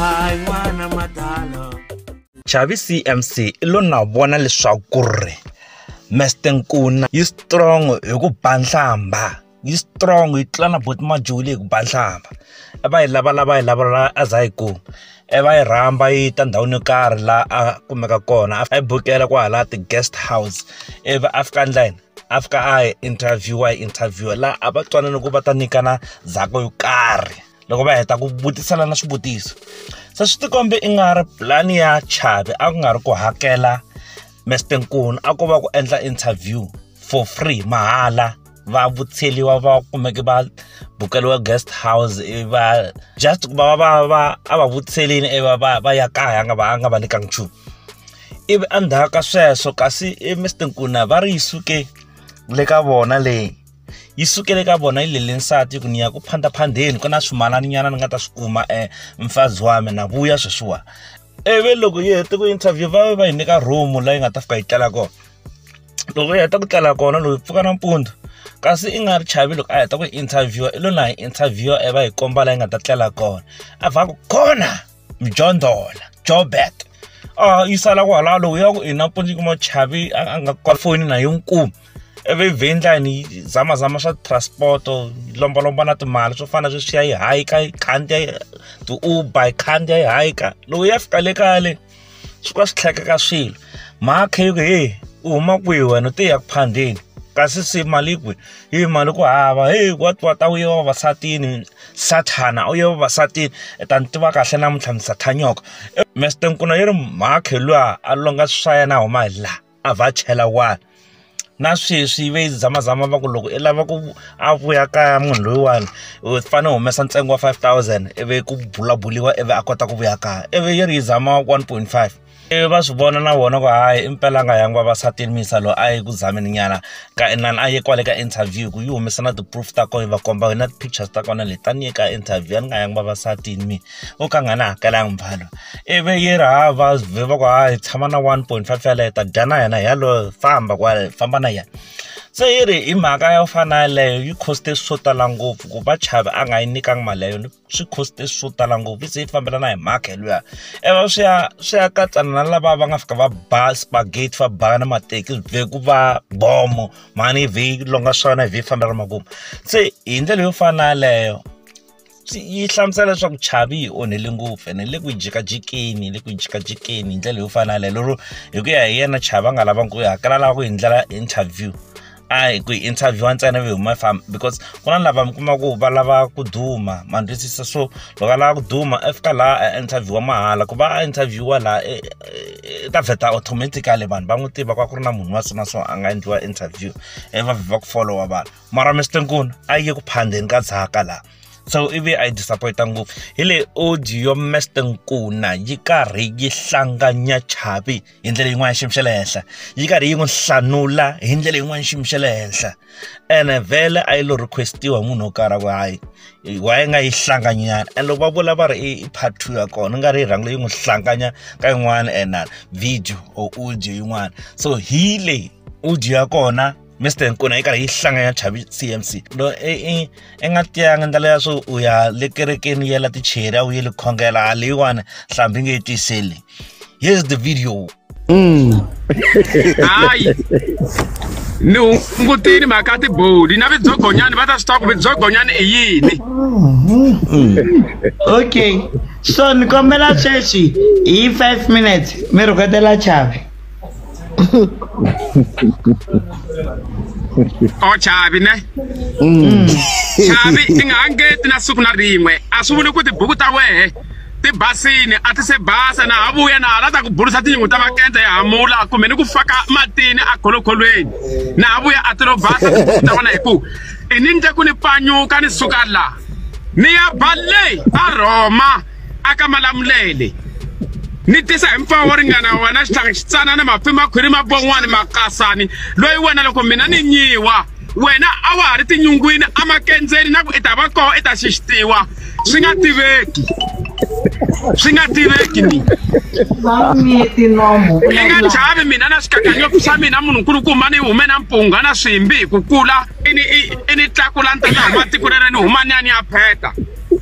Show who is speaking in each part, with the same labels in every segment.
Speaker 1: hayi n'wana madala chavi cmc i lo na vona leswaku ri mester nkuna yi strong hi ku ba nhlamba yi strong yi tlula na boti majuli hi ku ba nhlamba e va yi lavalava yi lavalava a za yi kuma e va yi rhamba yi ta ndhawini yo karhi laha a kumeka kona a yi bukela kwahala ti-guest house ivi african line after a hi interviewer hi interviewer laha a va twanana ku va ta nyikana ndzhaka yo karhi loko va heta ku vutiselana swivutiso se swi tikombe i nga ri pulani ya chavi a ku nga ri ku hakela mester nkunu a ko va ku endla interview for free mahala va vutseliwa va kumeke va bukeliwa guest house ivi va just ku va va va a va vutselini ivi va va va ya kaya a nga va a nga va nyikanga nchumu ivi endzhaku ka sweswo kasi e Mister Nkuna va ri yi suke le ka vona leyi yi sukele ka vona yi lele nsati ku ni ya ku phandaphandeni ku na swimalani nyana ni nga ta swi kuma e mfazi wa mina na vuya sweswiwa ivi loko yi hete ku interview va va yi nyika room laha yi nga ta fika yi tlela kona loko yi heta ku tlela kona loko yi pfuka nampundzu kasi i nga ri chavi loko a heta ku interview i lo na hi interview e va hi komba laha yi nga ta tlela kona a va ku kona mjondhola jobek a yi sala kwalaho lowu ya ku inampundzu yi kuma chavi a nga kwa foni na yo nkuma ivi yi vhindlani yi zamazama swa transport yi lombalomba na timali swo fana sweswi ya yi hayika yi khandziya ti-uber yi khandziya yi hayika lowu ya fika le kale swi va swi tlhekeka swilo mhaka yo ku heyi u huma kwihi wena u te ya ku phandeni kasi se mali kwi yi mali ku hava heyi wa wa ta u ye vavasatini sathana u ye vavasatini i ta ni tiva kahle namuntlha ni sathanyoka mister nkuna yi ri mhakhi luya a longa swa yena a huma hi laha. a vha chela wani na sweswi ve zamazama va ku loko i lava ku a vuya kaya munhu loyiwani u fanele u humesa ntsengo wa five thousand ivi ku bula buliwa ivi a kota ku vuya kaya ivi yi ri yi zama one point five ivi va swi vona na vona ku hayi i mpela nga yangi vavasatini mi yisa loyi a yi ku zamini nyana ka inani a ye kwale ka interview ku yi humesa na ti-proof ta kona yi va komba na ti-pictures ta kona leti a ni ye ka interview a ni nga yangi vavasatini mina. o ka a nga ni hakelanga muvalo ivi yi ri ha va vhe va ku ha hi tshama na one point five yaleyo hi ta dya na yena hi yaloye famba kwale hi famba na yena se yi ri hi mhaka yo fana na yeleyo yi cost-e swo tala ngopfu ku va chavi a nga yi nyikanga mali ya yona swi cost-e swo tala ngopfu yi ze yi fambelana hi mhaka hi luya i va swi ya swi ya katsana na lava va nga fika va ba spagate va ba na mateki swi vhe ku va bomo mhani yi vhe yi longa swona yi vhe yi fambela makumu se hi ndlela yo fana na yaleyo. yi hlamusela leswaku chavi yi onhele ngopfu ene le ku yi jikajikeni le ku yi jikajikeni hi ndlela yo fana na leyo lero hi ku ya hi yena chavi a nga lavangi ku yi hakela lava ku hi ndlela interview a hi ku yi interview ntsena ve huma famba because ku na lava mi kuma ku va lava ku duma ma ni twisisa so loko a lava ku duma a fika laha a interview mahala ku va a interview laha e, e, e ta vheta automatically vanhu va n'wi tiva ku a ku ri na munhu wa so na so a nga endliwa interview e va vhe va ku followa vanhu mara Mr Nkuna a yi ku phandeni ka dzaka la so ivi a yi disappointa ngopfu hi leyi audio Mr Nkuna yi karhi yi hlanganya chavi hi ndlela yin'wana xiyimo xa le henhla yi karhi yi n'wi hlanula hi ndlela yin'wana xiyimo xa le henhla ene vhele a yi lo requestiwa hi munhu wo karhi ku hayi wa yi nga yi hlanganyana and loko va vula va ri i part two ya kona nga ri yi rhangi leyi n'wi hlanganya ka yin'wana and video or audio yin'wana so hi leyi audio ya kona Mr Nkuna yi karhi yi hlanga ya chavi CMC lo e, e, e nga tiyanga ndlela ya swo u ya le kerekeni yela ticheri a wu yeli khongela a leyiwani hlambi nge yi tiseli here's the video mm.
Speaker 2: hayi ni hungutini mhaka tiboli na vidzogonyani va ta swi tiva ku vidzogonyani i yini mm.
Speaker 3: okay so ni kombela sweswi hi five minutes mi rhuketela chavi
Speaker 2: o chavi ne mm. chavi i nga ha ngeti na siku na rin'we a swi vuli ku tibuku ta wehe ti basini a ti se basa na ha vuya na ha la ta ku burisa tinyungu ta makenta ya hamula kumbe ni ku faka matini a kholokholweni na ha vuya a ti lo basa tibuku ta wena hi ku i ni nje ku ni pfanyuka ni suka la ni ya bale a rhoma aka malamulele ni tisa hi mpfawo wo ringana wena xitlhangi xitsanana mafi makhwiri mabon'wani makasani loyi wena loko mina ni nyiwa wena a wa ha ri tinyungwini amakendzeni na ku i ta va koho i ta xixitiwa swi nga tiveki swi nga tiveki ni i nga chavi mina na swikakanyopi swa mina munhu nkulukumba ni hume na mpunga na swimbi hi ku kula i ni tlakula ni tata huma tiko rere ni huma ni ya ni ya pheta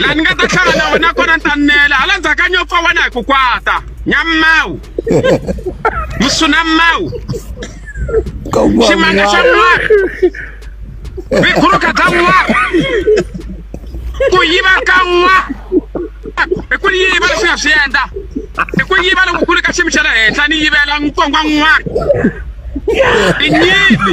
Speaker 2: laha ni nga ta hlangana na wena kona ni ta nela hala ndzhaku ka nyopfa wena hi ku kwata nyamawu musunamawu ximanga xa n'wana vikhuruka bya n'wana ku yiva ka n'wana hi ku yiva leswi nga swi endla hi ku yiva loko ku ri ka xiyimo xa le henhla ni yivela nkongo n'wana i nyimpi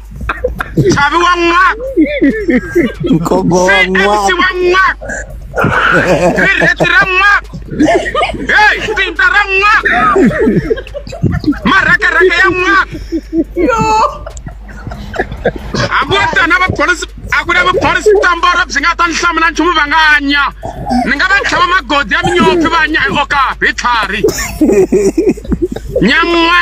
Speaker 2: Sabi wa nga. Nkobo wa Say nga. MC wa nga. Rireti ra nga. Hey, tinta ra nga. Maraka raka ya nga. Hambi wo tana va police a ku na va police tambora byi nga ta ni hlamula nchumu va nga nya. Ni nga va tlhava magodi ya minyopfi va nya hi okapi tlhari. Nyangwa.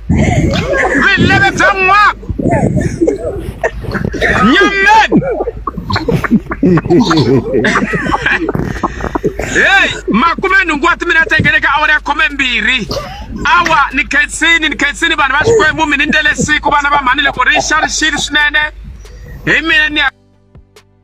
Speaker 2: re lebetsang ngwako nyammen hey makume nhungu wa timina tengeleka awara ya khume mbirhi awa ni khensini ni khensini vanhu va xikwembu mi ni ndele siku vana va mhani loko ri xa ri xili swinene hi mina ni ya